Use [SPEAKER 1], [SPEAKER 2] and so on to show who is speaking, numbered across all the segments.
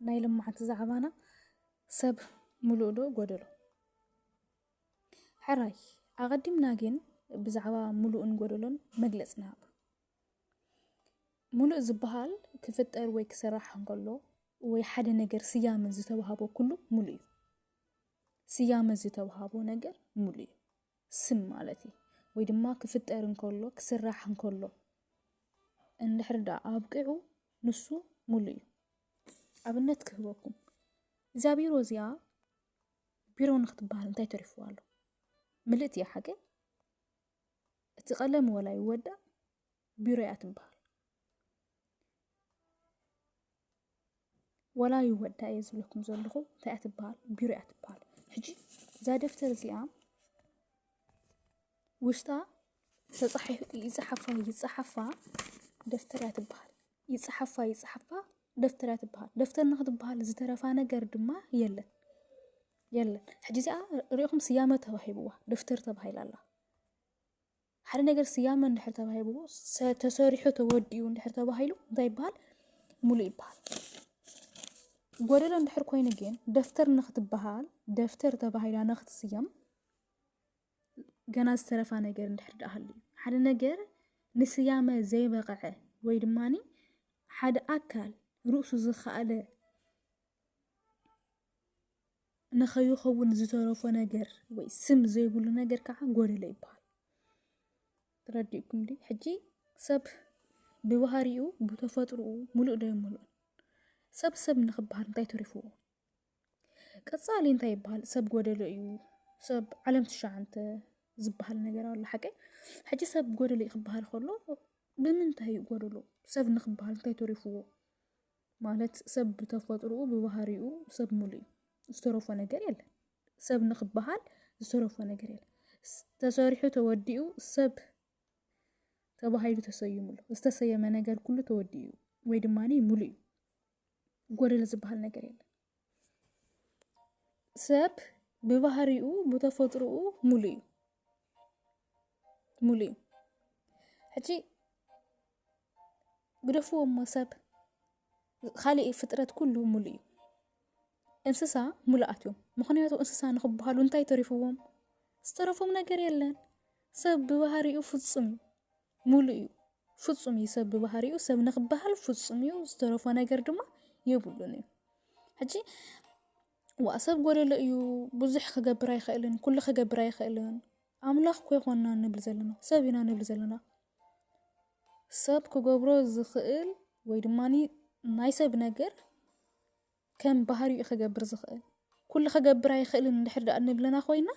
[SPEAKER 1] ናይ ልምዓት ዛዕባና ሰብ ምሉእ ዶ ጎደሎ? ሕራይ ኣቐዲምና ግን ብዛዕባ ምሉእን ጎደሎን መግለፂ ንሃብ። ምሉእ ዝበሃል ክፍጠር ወይ ክስራሕ እንከሎ ወይ ሓደ ነገር ስያመ ዝተዋህቦ ኩሉ ምሉእ እዩ። ስያመ ዝተዋህቦ ነገር ምሉእ እዩ። ስም ማለት እዩ ወይ ድማ ክፍጠር እንከሎ ክስራሕ እንከሎ እንድሕር ደኣ ኣብቂዑ ንሱ ሙሉ እዩ ኣብነት ክህበኩም እዛ ቢሮ እዚኣ ቢሮ ንክትበሃል እንታይ ተሪፍዋ ኣሎ ምልእት እያ ሓቂ እቲ ቀለም ወላ ይወዳእ ቢሮ እያ ትበሃል ወላ ይወዳ እየ ዝብለኩም ዘለኹ እንታይ እያ ትበሃል ቢሮ እያ ትበሃል ሕጂ እዛ ደፍተር እዚኣ ውሽጣ ተጻሒፉ ይጽሓፋ ይጽሓፋ ደፍተር እያ ትበሃል ይጽሓፋ ይጽሓፋ ደፍተር እያ ትበሃል ደፍተር ንክትበሃል ዝተረፋ ነገር ድማ የለን የለን ሕጂ እዚኣ ሪኢኹም ስያመ ተባሂብዋ ደፍተር ተባሂላ ኣላ ሓደ ነገር ስያመ እንድሕር ተባሂብዎ ሰ- ተሰሪሑ ተወዲኡ እንድሕር ተባሂሉ እንታይ ይበሃል? ሙሉእ ይበሃል። ጎደሎ እንድሕር ኮይኑ ግን ደፍተር ንክትበሃል ደፍተር ተባሂላ ንክትስየም ገና ዝተረፋ ነገር እንድሕር ደኣ ሃልዩ ሓደ ነገር ንስያመ ዘይበቐዐ ወይ ድማኒ ሓደ ኣካል ርእሱ ዝኸኣለ ንኸይኸውን ዝተረፎ ነገር ወይ ስም ዘይብሉ ነገር ከዓ ጎደሎ ይበሃል። ተረዲእኩም ዲ ሕጂ ሰብ ብባህሪኡ ብተፈጥሮኡ ሙሉእ ዶ ይሙሉእ ሰብ ሰብ ንክበሃል እንታይ ተሪፍዎ? ቀፃሊ እንታይ ይበሃል? ሰብ ጎደሎ እዩ ሰብ ዓለም ትሸዓንተ ዝበሃል ነገር ኣሎ ሓቂ ሕጂ ሰብ ጎደሎ እዩ ክበሃል ከሎ ብምንታይ እዩ ጎደሎ ሰብ ንክበሃል እንታይ ተሪፍዎ? ማለት ሰብ ብተፈጥሮኡ ብባህሪኡ ሰብ ሙሉ እዩ ዝተረፎ ነገር የለን ሰብ ንክበሃል ዝተረፎ ነገር የለን ተሰሪሑ ተወዲኡ ሰብ ተባሂሉ ተሰይሙ ኣሎ ዝተሰየመ ነገር ኩሉ ተወዲኡ ወይ ድማ ሙሉ እዩ ጎደለ ዝበሃል ነገር የለን ሰብ ብባህሪኡ ብተፈጥሮኡ ሙሉእ እዩ ሙሉእ እዩ ሕጂ ግደፍዎ እሞ ሰብ ካሊእ ፍጥረት ኩሉ ሙሉእ እዩ እንስሳ ሙሉኣት እዮም ምኽንያቱ እንስሳ ንኽበሃሉ እንታይ ተሪፍዎም ዝተረፎም ነገር የለን ሰብ ብባህሪኡ ፍፁም እዩ። ሙሉእ እዩ ፍፁም እዩ ሰብ ብባህሪኡ ሰብ ንክበሃል ፍፁም እዩ ዝተረፎ ነገር ድማ የብሉን እዩ ሕጂ ዋእ ሰብ ጎደሎ እዩ ብዙሕ ክገብር ኣይክእልን ኩሉ ክገብር ኣይክእልን ኣምላኽ እኮ ይኮንና ንብል ዘለና ሰብ ኢና ንብል ዘለና ሰብ ክገብሮ ዝኽእል ወይ ድማ ናይ ሰብ ነገር ከም ባህሪኡ ክገብር ዝኽእል ኩሉ ክገብር ኣይክእልን እንድሕር ደኣ ንብለና ኮይና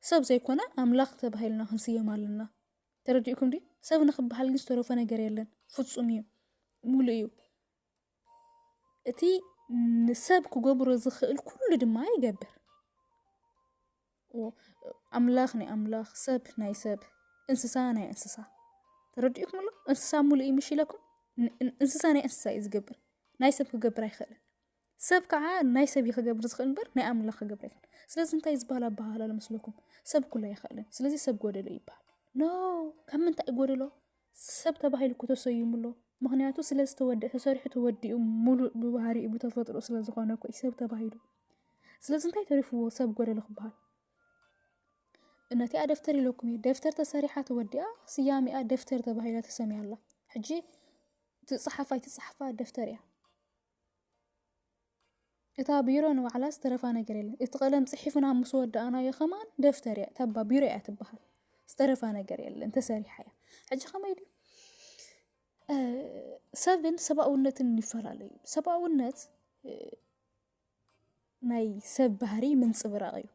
[SPEAKER 1] ሰብ ዘይኮነ ኣምላኽ ተባሂልና ክንስየም ኣለና ተረዲኡኩም ድዩ? ሰብ ንክበሃል ግን ዝተረፎ ነገር የለን። ፍፁም እዩ፣ ሙሉእ እዩ። እቲ ንሰብ ክገብሮ ዝኽእል ኩሉ ድማ ይገብር። ኣምላኽ ናይ ኣምላኽ፣ ሰብ ናይ ሰብ፣ እንስሳ ናይ እንስሳ ተረዲኡኩም ኣሎ። እንስሳ ሙሉእ እዩ ምሽ ኢለኩም። ን- ን- እንስሳ ናይ እንስሳ እዩ ዝገብር፣ ናይ ሰብ ክገብር ኣይኽእልን። ሰብ ከዓ ናይ ሰብ እዩ ክገብር ዝኽእል እምበር ናይ ኣምላኽ ክገብር ኣይክእል ስለዚ እንታይ ዝበሃል ኣበሃህላ ኣሎ መስለኩም ሰብ ኩሉ ኣይኽእልን ስለዚ ሰብ ጎደሎ ይበሃል ኖ ካብ ምንታይ እዩ ጎደሎ ሰብ ተባሂሉ እኮ ተሰይሙ ኣሎ ምክንያቱ ስለ ዝተወድአ ተሰሪሑ ተወዲኡ ሙሉእ ብባህሪኡ ብተፈጥሮ ስለ ዝኾነ እኮ እዩ ሰብ ተባሂሉ ስለዚ እንታይ ተሪፍዎ ሰብ ጎደሎ ክበሃል ነቲኣ ደፍተር ኢለኩም እዩ ደፍተር ተሰሪሓ ተወዲኣ ስያሜኣ ደፍተር ተባሂላ ተሰሚያ ኣላ ሕጂ ትፅሓፋ ኣይትፅሓፋ ደፍተር እያ እታ ቢሮ ንባዕላ ዝተረፋ ነገር የለን። እቲ ቀለም ጽሒፍና ምስ ወዳእናዮ ከማን ደፍተር እያ ተባ ቢሮ እያ ትበሃል። ዝተረፋ ነገር የለን ተሰሪሓ እያ። ሕጂ ከመይ ድዩ ሰብን ሰብኣውነትን ይፈላለዩ። ሰብኣውነት ናይ ሰብ ባህሪ ምንጽብራቕ እዩ።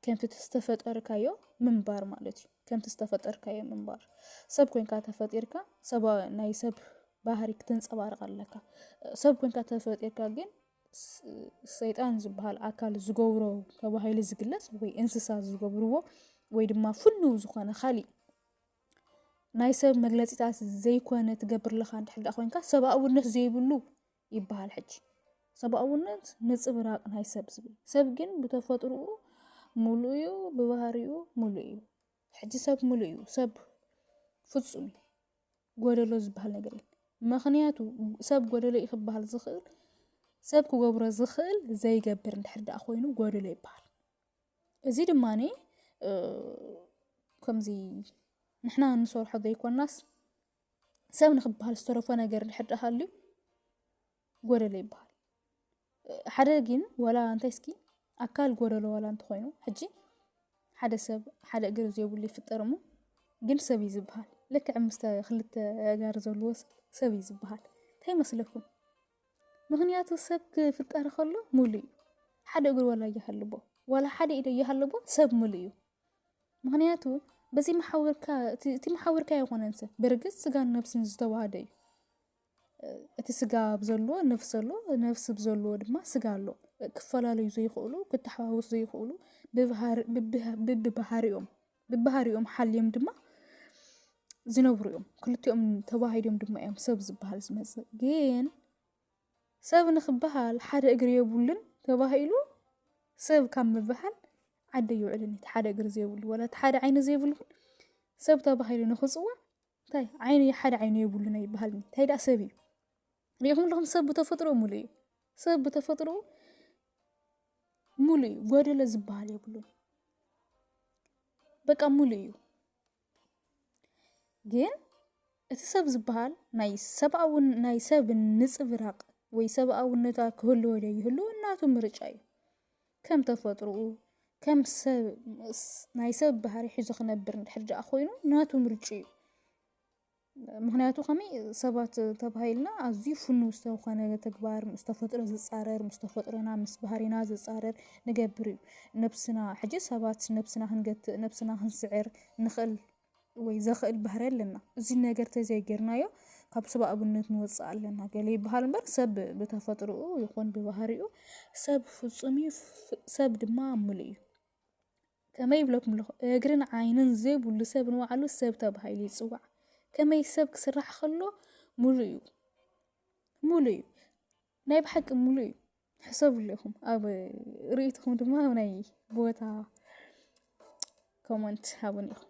[SPEAKER 1] ከምቲ ዝተፈጠርካዮ ምንባር ማለት እዩ። ከምቲ ዝተፈጠርካዮ ምንባር ሰብ ኮንካ ተፈጢርካ ሰብኣዊ ናይ ሰብ ባህሪ ክትንፀባርቕ ኣለካ። ሰብ ኮንካ ተፈጢርካ ግን ሰይጣን ዝበሃል ኣካል ዝገብሮ ተባሂሉ ዝግለፅ ወይ እንስሳ ዝገብርዎ ወይ ድማ ፍሉው ዝኾነ ካሊእ ናይ ሰብ መግለፂታት ዘይኮነ ትገብር ኣለካ እንድሕር ኮንካ ሰብኣውነት ዘይብሉ ይበሃል ሕጂ። ሰብኣውነት ንጽብራቕ ናይ ሰብ ዝብል ሰብ ግን ብተፈጥርኡ ምሉእ እዩ ብባህሪኡ ምሉእ እዩ። ሕጂ ሰብ ምሉእ እዩ ሰብ ፍጹም እዩ ጎደሎ ዝበሃል ነገር እዩ። ምክንያቱ ሰብ ጎደሎ እዩ ክበሃል ዝኽእል ሰብ ክገብሮ ዝኽእል ዘይገብር እንድሕር ደኣ ኮይኑ ጎደሎ ይበሃል። እዚ ድማ ከምዚ ንሕና እንሰርሖ ዘይኮናስ ሰብ ንክበሃል ዝተረፎ ነገር ድሕር ሃልዩ ጎደሎ ይበሃል ሓደ ግን ወላ እንታይ እስኪ ኣካል ጎደሎ ወላ እንተኮይኑ ሕጂ ሓደ ሰብ ሓደ እግር ዘይብሉ ይፍጠር እሞ ግን ሰብ እዩ ዝበሃል ልክዕ ምስ ክልተ ጋር ዘለዎ ሰብ እዩ ዝበሃል እንታይ መስለኩም ምክንያቱ ሰብ ክፍጠር ከሎ ሙሉ እዩ ሓደ እግር ወላ እያሃለቦ ወላ ሓደ ኢደ እያሃለቦ ሰብ ሙሉ እዩ ምክንያቱ በዚ መሓውርካ እቲ- እቲ መሓውርካ ኣይኮነን ሰብ ብርግፅ ስጋን ነብስን ዝተዋሃደ እዩ እቲ ስጋ ብዘለዎ ነፍሲ ኣሎ ነፍሲ ብዘለዎ ድማ ስጋ ኣሎ ክፈላለዩ ዘይኽእሉ ክተሓዋወሱ ዘይኽእሉ ብባህር- ብብሃ- ብብባህሪኦም ብባህሪኦም ሓልዮም ድማ ዝነብሩ እዮም ክልቲኦም ተዋሂዶም ድማ እዮም ሰብ ዝበሃል ዝመፅእ ግን ሰብ ንክበሃል ሓደ እግሪ የብሉን ተባሂሉ ሰብ ካብ ምበሃል ዓዲ ኣይውዕልን እቲ ሓደ እግሪ ዘይብሉ ወላ እቲ ሓደ ዓይኒ ዘይብሉ ግን ሰብ ተባሂሉ ንክፅዋዕ እንታይ ዓይኒ ሓደ ዓይኒ የብሉን ኣይበሃልን እዩ። እንታይ ደኣ ሰብ እዩ ሪኢኹም ኣለኹም ሰብ ብተፈጥሮ ሙሉእ እዩ ሰብ ብተፈጥሮ ሙሉእ እዩ ጎደሎ ዝበሃል የብሉን በቃ ሙሉእ እዩ። ግን እቲ ሰብ ዝበሃል ናይ ሰብኣዊ ናይ ሰብ ንፅብራቕ ወይ ሰብኣውነታ ክህልዎ ዶ ይህልዎ እናቱ ምርጫ እዩ ከም ተፈጥሮኡ ከም ሰብ ናይ ሰብ ባህሪ ሒዙ ክነብር እንድሕር ደኣ ኮይኑ ናቱ ምርጫ እዩ ምኽንያቱ ከመይ ሰባት ተባሂልና ኣዝዩ ፍኑው ዝተኾነ ተግባር ምስ ተፈጥሮ ዝፃረር ምስ ተፈጥሮና ምስ ባህሪና ዝፃረር ንገብር እዩ ነብስና ሕጂ ሰባት ነብስና ክንገትእ ነብስና ክንስዕር ንኽእል ወይ ዘኽእል ባህሪ ኣለና እዚ ነገር ተዘይጌርናዮ ካብ ሰብ ኣብነት ንወፅእ ኣለና ገለ ይበሃል እምበር ሰብ ብተፈጥሮኡ ይኹን ብባህሪኡ ሰብ ፍፁም እዩ ሰብ ድማ ምሉእ እዩ ከመይ ይብለኩም'ለኹ እግርን ዓይንን ዘይብሉ ሰብ ንባዕሉ ሰብ ተባሂሉ ይጽዋዕ። ከመይ ሰብ ክስራሕ ከሎ ሙሉእ እዩ ሙሉእ እዩ ናይ ብሓቂ ሙሉእ እዩ። ሕሰብሉ ኢኹም ኣብ ርእይቶኹም ድማ ኣብ ናይ ቦታ ኮመንት ሃቡኒ ኢኹም።